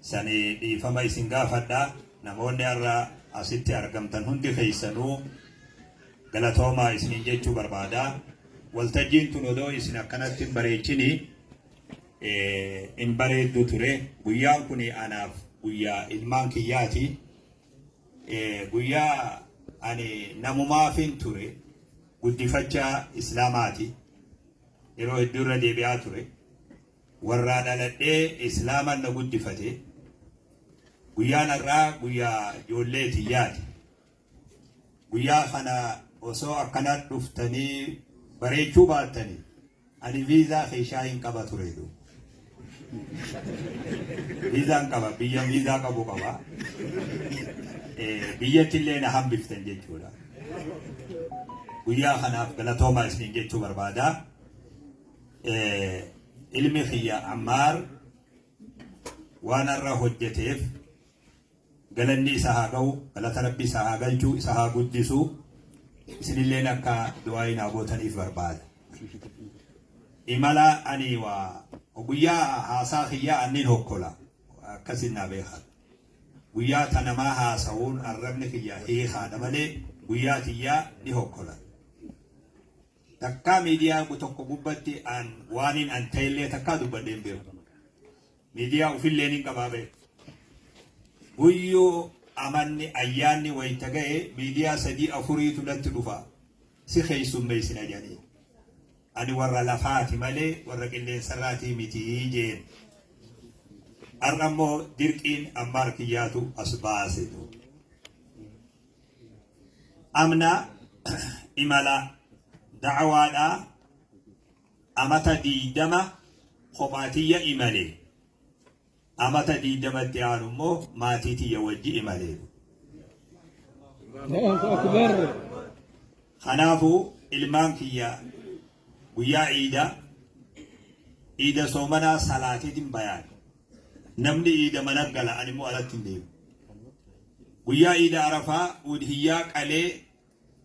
sani dhiifama isin gaafadha. Namoonni har'a asitti argamtan hundi keessanuu galatoomaa isiniin jechuu barbaada. Waltajjiin tun odoo isin akkanatti hin bareechini hin bareeddu ture. Guyyaan kun anaaf guyyaa ilmaan kiyyaati. Guyyaa ani namumaafin ture guddifachaa islaamaati. Yeroo hedduu irra deebi'aa ture. Warraa dhaladhee islaaman na guddifate guyyaan har'aa guyyaa ijoollee tiyyaati. Guyyaa kana osoo akkana dhuftanii bareechuu baattanii ani viizaa keeshaa hin qaba ture du. Viizaan qaba biyya viizaa qabu qaba. Biyyatti illee na hambiftan jechuudha. Guyyaa kanaaf galatoomaa isin jechuu barbaada. ilmi kiyya Ammaar waan har'a hojjeteef galanni isa haa ga'u galata rabbi isa haa galchu isa haa guddisu isinilleen akka du'aayi naa gootaniif barbaada. Imala ani waa guyyaa haasaa kiyyaa annin hokkola akkasin naa beekaa. Guyyaa ta namaa haasa'uun arrabni kiyya hiikaadha malee guyyaa tiyyaa ni hokkola. Takkaa miidiyaa gu tokko gubbatti an waanin an ta'ellee takkaa dubbadhee hin beeku. Miidiyaa ufillee nin qabaa ba'e. Guyyuu amanni ayyaanni wayita ga'e miidiyaa sadii afuriitu natti dhufa. Si keessummeessina jedhanii. Ani warra lafaati malee warra qilleensarraatii miti jeen. Har'a immoo dirqiin ammaar kiyyaatu as baase. Amna imala da'awaadhaa amata diidama kophaa tiyya imale. Amata diidama itti aanu immoo maatii tiyya wajji imale. Kanaafuu ilmaan kiyya Guyyaa iidaa, iida soomanaa salaateetin bayaan. Namni iida mana gala ani immoo alatti hin deemu. Guyyaa iida arafaa udhiyyaa qalee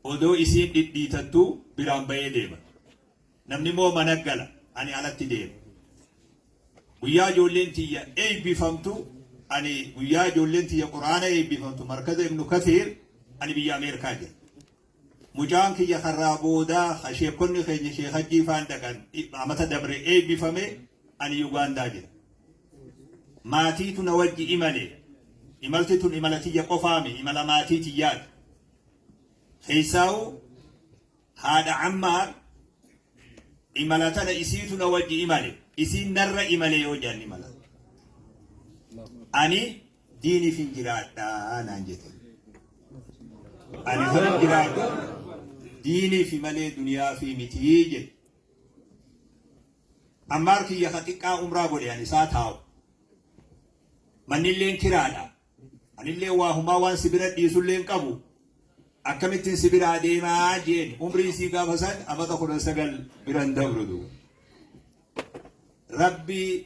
odoo isiin dhidhiitattuu biraan bayee deema. Namni immoo mana gala ani alatti deema. Guyyaa ijoolleen tiyya eebbifamtu ani guyyaa ijoolleen tiyya quraana eebbifamtu markaza ibnu kasiir ani biyya Ameerikaa jira. Mucaan kiyya karraa boodaa ka sheekkonni keenya Sheek Hajjii faan dhaqan amata dabre eebbifame ani Yugaandaa jira. Maatiitu na wajji imale. Imalti tun imala tiyya qofaami imala maatii tiyyaati. Keessaa'u haadha Ammaar imala tana isiitu na wajji imale. Isiin narra imale yoo jaan imala. Ani diiniifin jiraadha naan jete. Ani kan jiraadhu diiniifi malee duniyaafi mitii jedhe. Ammaar kiyya ka xiqqaa umraa godhe ani isaa taa'u. Mannilleen kiraadha. Anillee waa humaa waan si bira dhiisulleen qabu. Akkamittiin si biraa deemaa jeen umrii sii gaafa san amata kudha sagal biran dabrudu. Rabbi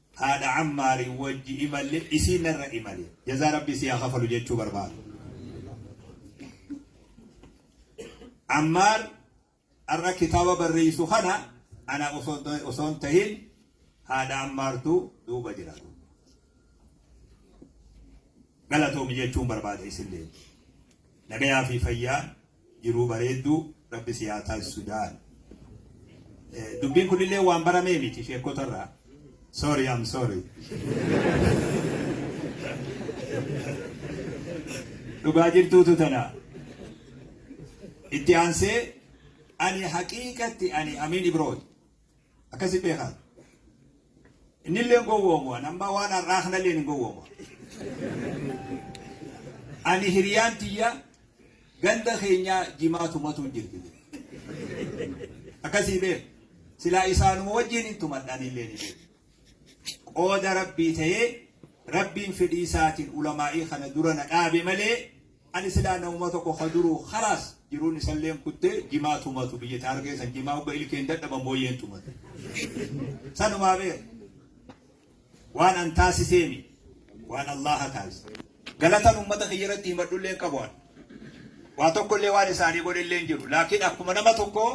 Haadha Ammaariin wajji imalle isiin narra imale. Jazaa Rabbii sii haa kafalu jechuu barbaada. Ammaar har'a kitaaba barreessu kana ana osoo hin tahin haadha Ammaartu duuba jira. Galatoomi jechuun barbaada isillee. Nagayaa fi fayyaa jiruu bareedduu rabbi si haa taasisu daal dubbiin kunillee waan baramee miti sheekkota irraa sorry I'm sorry dhugaa jirtuutu tana itti aansee ani haqiiqatti ani amiin ibrooti Akkasi beekaa. Inni illee gowwoomu waan ammaa waan har'aa kana illee hin gowwoomu. Ani hiriyaan tiyya ganda keenyaa jimaa tumatu hin jirti. Akkasii beeku. Silaa isaanuma wajjin hin tumadhaan illee ni beeku. Qooda rabbii ta'ee rabbiin fedhii isaatiin ulamaa'ii kana dura na dhaabe malee Ani silaa namuma tokko ka duruu khalaas jiruun isalleen kutte jimaa tumatu biyya taargee san jimaa hogga ilkeen dadhaban booyyeen tumata. Sanumaa beer. Waan an taasisee mi. Waan Allaha taasise. Galatan ummata kiyya irratti himadhulleen qabu an. Waa tokkollee waan isaanii godhelleen jiru. Laakiin akkuma nama tokkoo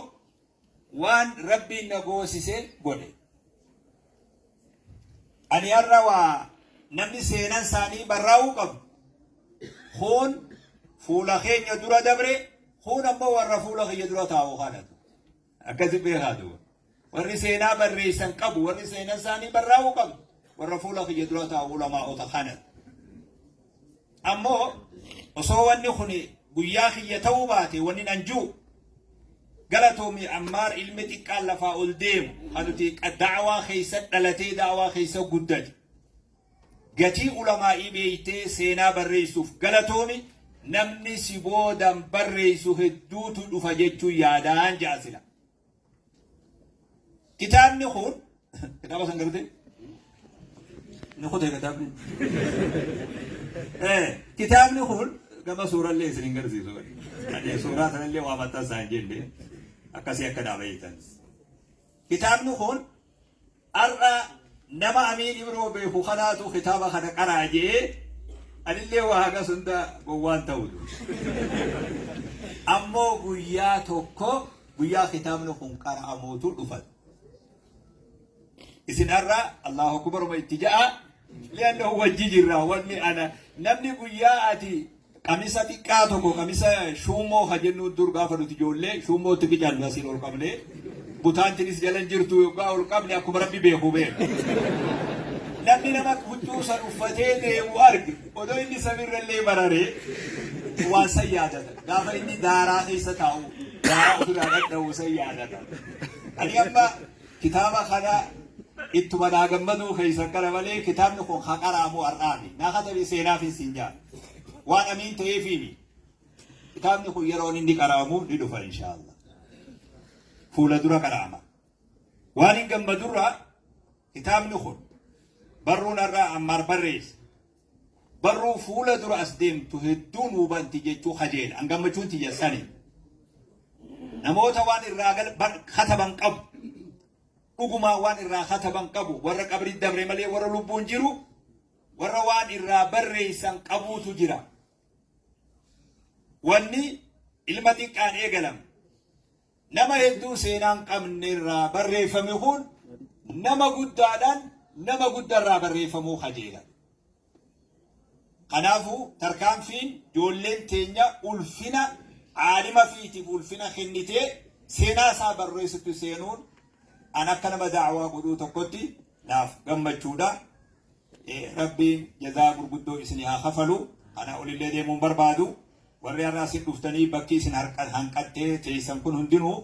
Waan Rabbiin na goosise godhe. Ani har'a waa namni seenan isaanii barraa'uu qabu. Kuun fuula keenya dura dabre, kuun ammoo warra fuula kiyya dura taa'u haadhatu. Akkasi beekaa duuba. Warri seenaa barreessan qabu, warri seenan isaanii barraa'uu qabu. Warra fuula kiyya dura taa'u ulamaa'ota kanatu. Ammoo osoo wanni kun guyyaa kiyya ta'uu baate wanni nan ji'u galatoomi Ammaar ilmi xiqqaan lafaa ol deemu kan nuti da'awaa keessa dhalatee da'awaa keessa guddate. Gatii ulamaa'ii beeytee seenaa barreessuuf galatoomi namni si boodan barreessu hedduutu dhufa jechuun yaadaan ja'a sila. Kitaabni kun kitaaba san gartee ni kutee kitaabni. Eh, Kitaabni kun gama suurallee isin hin garsiisu. Ani suuraa sanallee waa maxxansaa hin jenne akkasii akka dhaabayitan. Kitaabni kun Ar'a nama Amiin Ibroo beeku kanaatu kitaaba kana qaraa je'ee anillee waa hagas hunda gowwaan ta'u ammoo guyyaa tokko guyyaa kitaabni kun qara'amuutu dhufan. Isin ar'a Allahu Akbaruma itti ja'a li'annahu wajji jirra wanni ana namni guyyaa ati Qamisa xiqqaa tokko qamisa shuummoo ka jennu dur gaafa nuti ijoollee shuummootti bicannu asiin ol qabne butaantinis jala hin jirtu yoggaa ol qabne akkuma rabbi beeku beeku. Namni nama huccuu san uffatee deemu arge odoo inni samiirra illee bararee waan san yaadata. Gaafa inni daaraa keessa taa'u daaraa ofirraa dhadha'u san yaadata. Ani amma kitaaba kana ittuma naa gammaduu keessan kana malee kitaabni kun haqaraamu har'aami. Naa katabe seenaaf hin siin jaala. Waan amiin ta'eefiimi. Kitaabni kun yeroon inni qara'amu ni dhufa inshaallah. Fuula dura qara'ama. Waan hin gammadurraa kitaabni kun barruun har'aa ammaar barreesse. Barruu fuula dura as deemtu hedduun hubanti jechuu kajeela. An gammachuun tiyya sani. Namoota waan irraa gal bar- kataban qabu. Dhugumaa waan irraa kataban qabu. Warra qabrii dabre malee warra lubbuun jiru warra waan irraa barreeysan qabuutu jira. Wanni ilma xiqqaan eegalame. Nama hedduu seenaan qabne irraa barreeffame kun nama guddaadhaan nama guddarraa barreeffamuu kajeela. Kanaafuu tarkaanfiin ijoolleen teenya ulfina aalima fiitiif ulfina kennitee seenaa isaa barreessutti seenuun an akka nama daawaa godhuu tokkotti naaf gammachuudha. Rabbiin jazaa gurguddoo isinii haa kafalu. Ana olillee deemuun barbaadu. Warri har'a asin dhuftanii bakki isin hanqattee teessan kun hundinuu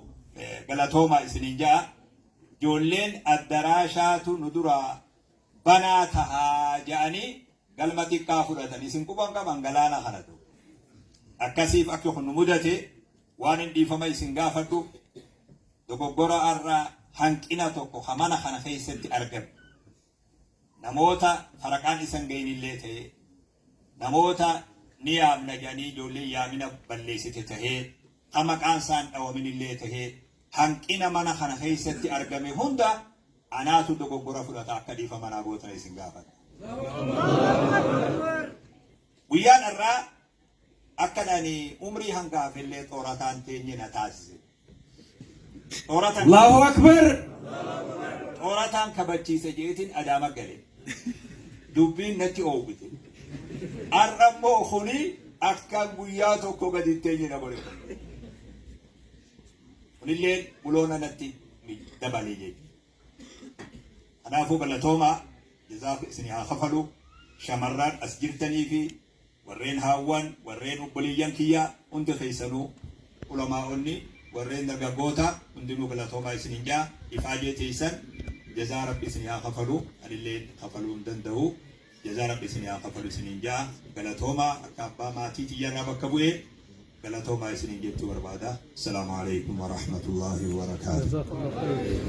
galatoomaa isiniin ja'a. Ijoolleen addaraashaatu nu duraa banaa tahaa ja'anii galma xiqqaa fudhatan isin quban qaban galaana kanatu. Akkasiif akka kun nu mudate waan hin dhiifama isin gaafadhu Dogoggora har'a hanqina tokko ka mana kana keessatti argame namoota faraqaan isa hin gahin illee ta'ee namoota ni yaamna jedhanii ijoollee yaamina balleessite ta'ee ka maqaan isaa hin dhawamin illee ta'ee hanqina mana kana keessatti argame hunda anaatu dogoggora fudhata akka dhiifama naa gootan isin gaafadha. Guyyaan har'aa akkan ani umrii hanga hafellee xoorataan teenye na taasise. Xooratan Allahu Akbar! xoorataan kabachiise jeetiin adaama gale. Dubbiin natti oowwite. Har'a immoo kuni akkaan guyyaa tokko gadi hin teenye na godhe. Kunillee buloona natti dabale jechuudha. Kanaafuu galatoomaa jazaaf isin haa kafalu shamarraan as jirtanii fi Warreen haawwan, warreen obboleeyyan kiyya hunda keessanuu, ulamaa'onni, warreen dargaggoota hundinuu galatoomaa isiniin ja'a. Ifaajee teessan jazaa Rabbi isinii haa kafalu. Anilleen kafaluu hin danda'u. Jazaa Rabbi isinii haa kafalu isiniin ja'a. Galatoomaa akka abbaa maatii tiyya irraa bakka bu'ee galatoomaa isiniin jechuu barbaada. Assalaamu Aleykum Warahmatullaahi Wabarakaatuh.